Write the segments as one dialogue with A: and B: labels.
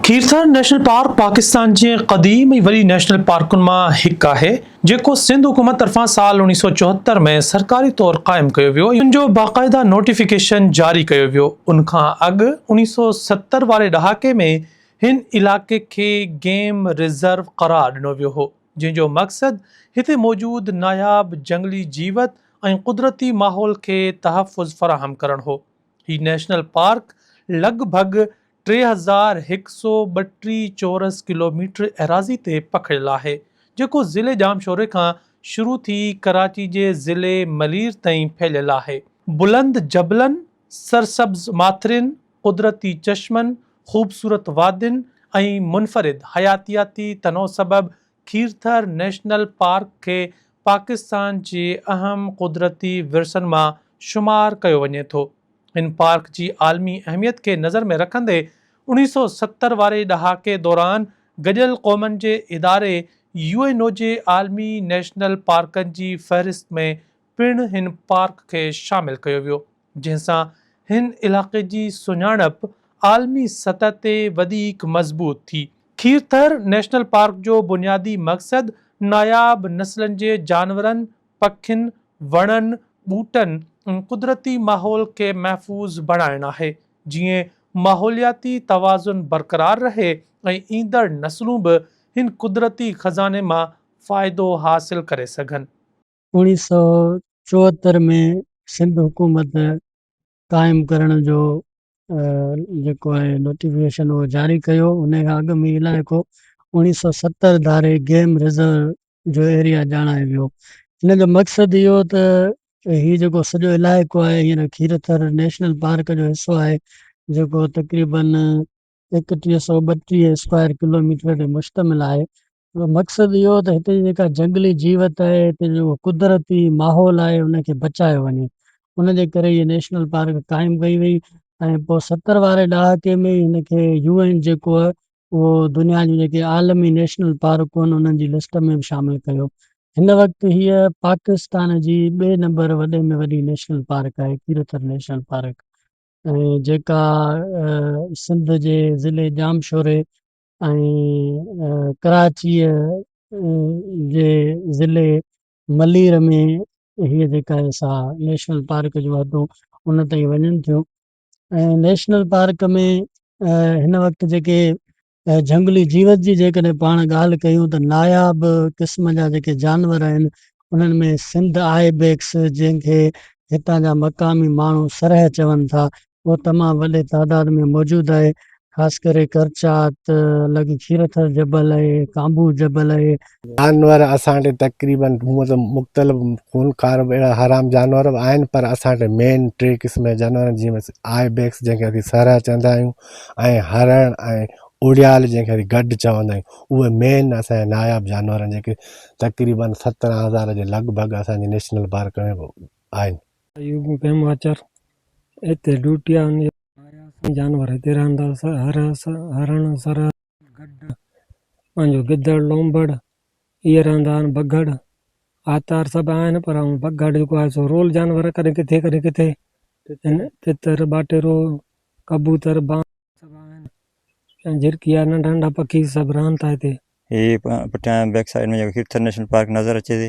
A: Kirthar national park Pakistan جي قديم ۽ وڏي نيشنل پارڪن مان هڪ آهي، جيڪو سنڌ حڪومت طرفان سال اوڻيهه سؤ چوهتر ۾ سرڪاري طور قائم ڪيو ويو ۽ ان جو باقاعده نوٽيفڪيشن جاري ڪيو ويو. ان کان اڳ اوڻيهه سؤ ستر واري ڏهاڪي ۾ هن علائقي کي گيم ريزرو قرار ڏنو ويو هو، جنهن جو مقصد هتي موجود ناياب جهنگلي جيوت ۽ قدرتي ماحول کي تحفظ فراهم ڪرڻ هو. هي نيشنل پارڪ لڳ ڀڳ ٽي هزار هڪ سؤ ٻٽيهه چورس ڪلوميٽر ايراضي تي پکڙيل آهي، جيڪو ضلعي ڄامشوري کان شروع ٿي ڪراچي جي ضلعي ملير تائين ڦهليل آهي. بلند جبلن، سرسبز ماٿرين، قدرتي چشمن، خوبصورت وادين ۽ منفرد حياتياتي تنوع سبب کيرٿر نيشنل پارڪ کي پاڪستان جي اهم قدرتي ورثن مان شمار ڪيو وڃي ٿو. هن پارڪ جي عالمي اهميت کي نظر ۾ رکندي اوڻيهه سؤ ستر واري ڏهاڪي دوران گڏيل قومن جي اداري يو اين او جي عالمي نيشنل پارڪن جي فهرست ۾ پڻ هن پارڪ کي شامل ڪيو ويو. جنهن سان هن علائقي جي سڃاڻپ عالمي سطح تي وڌيڪ مضبوط ٿي. کير ٿر نيشنل پارڪ جو بنيادي مقصد ناياب نسلن جي جانورن، پکين، وڻن، ٻوٽن ۽ قدرتي ماحول کي محفوظ بڻائڻ آهي، جيئن ماحولياتي توازن برقرار رهي ۽ ايندڙ نسلون به هن قدرتي خزاني مان فائدو حاصل ڪري سگهن. اوڻيهه سؤ
B: چوهتر ۾ سنڌ حڪومت قائم ڪرڻ جو جيڪو آهي نوٽيفڪيشن اهو جاري ڪيو ان کان اڳ ۾ علائقو اوڻيهه سؤ ستر ڌاري گيم ريزرو جو ايريا ڄاڻايو ويو ان جو مقصد اهو ته هي جيڪو سڄو علائقو آهي هينئر کيرٿر نيشنل پارڪ جو حصو آهي جيڪو تقريبن ايڪٽيهه سؤ ٻٽيهه اسڪوائر ڪلوميٽر تي مشتمل آهي مقصد اهو هو ته هتي جي جيڪا جهنگلي جيوت آهي هتي جو قدرتي ماحول آهي ان کي بچايو وڃي ان جي ڪري هي نيشنل پارڪ قائم ڪئي وئي ۽ پوء ستر واري ڏهاڪي ۾ هن کي يو اين جيڪو آهي اهو دنيا جون جيڪي عالمي نيشنل پارڪون آهن انهن جي لسٽ ۾ به شامل ڪيو هن وقت هيء پاڪستان جي ٻئي نمبر وڏي ۾ وڏي نيشنل پارڪ آهي ڪيرٿر نيشنل پارڪ جيڪا سنڌ جي ضلعي ڄامشوري ۽ ڪراچيء جي ضلعي ملير ۾ هيء جيڪا سا نيشنل پارڪ جون حدون ان تائين وڃن ٿيون ۽ نيشنل پارڪ ۾ هن وقت جيڪي ته جهنگلي جيوت جي جيڪڏهن پاڻ ڳالهه ڪيون ته ناياب قسم جا جيڪي جانور آهن انهن ۾ سنڌ آئي بيڪس جنهن کي هتان جا مقامي ماڻهو سرهه چون ٿا اهو تمام وڏي تعداد ۾ موجود آهي خاص ڪري ڪرچات لڳ کيرٿر جبل آهي ڪانڀو جبل آهي جانور اسان
C: وٽ تقريباً هونئن ته مختلف خونخوار اهڙا حرام جانور به آهن پر اسان وٽ مين ٽي قسم جا جانور آهن جيئن آء بيڪس جنهن کي اسين سرهه چوندا آهيون ۽ هرڻ ۽ اڙيال جنهن کي اسين گڊ چوندا آهيون اهي مين اسان جا ناياب جانور آهن جيڪي تقريباً سترهن هزار جي لڳ ڀڳ اسان جي نيشنل پارڪ ۾ آهن ايوب ڀيماچر هتي
B: ڊوٽي آهي آيا اسان جانور هتي رهندا هرڻ سرهه گڏ پنهنجو گدڙ لونڀڙ، اهي رهندا آهن بگهڙ، آتار سڀ آهن پر هو بگهڙ جيڪو آهي سو رول جانور ڪڏهن ڪٿي ڪڏهن ڪٿي ان تتر، ٻاٽيرو، ڪبوتر، بانگ سڀ آهن ۽ جهرڪيا ننڍا ننڍا پکي سڀ رهن ٿا هتي. هي پٺيان
D: بيڪ سائيڊ ۾ جيڪو هيرٿر نيشنل پارڪ نظر اچي ٿي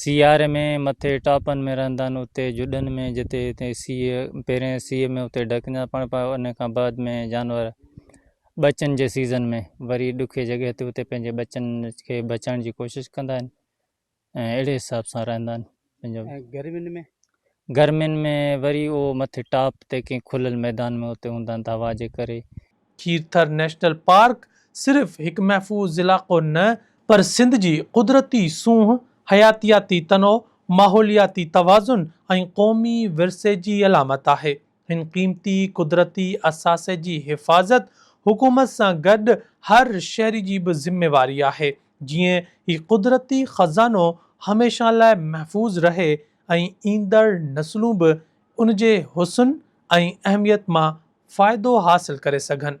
E: سياري ۾ مٿي ٽاپن ۾ رهندا آهن اتي جڏن ۾ جتي هتي سيء پهرين سيء ۾ اتي ڊڪندا پاڻ پاء ان کان بعد ۾ جانور ٻچن جي سيزن ۾ وري ڏکي جڳهه تي اتي پنهنجي ٻچن کي بچائڻ جي ڪوشش ڪندا آهن ۽ اهڙي حساب سان رهندا آهن پنهنجو ۽ گرمين ۾ گرمين ۾ وري اهو مٿي ٽاپ تي ڪنهن کليل ميدان ۾ اتي هوندا آهن ته هوا جي ڪري. کير ٿر
A: نيشنل پارڪ صرف هڪ محفوظ علائقو نه پر سنڌ جي قدرتي سونهن، حياتياتي تنوع، ماحولياتي توازن ۽ قومي ورثي جي علامت آهي. هن قيمتي قدرتي اثاثي جي حفاظت حڪومت سان گڏ هر شهري جي به ذميواري آهي جيئن هي قدرتي خزانو هميشه لاء محفوظ رهي ۽ ايندڙ نسلون به ان جي حسن ۽ اهميت مان فائدو حاصل ڪري سگهن.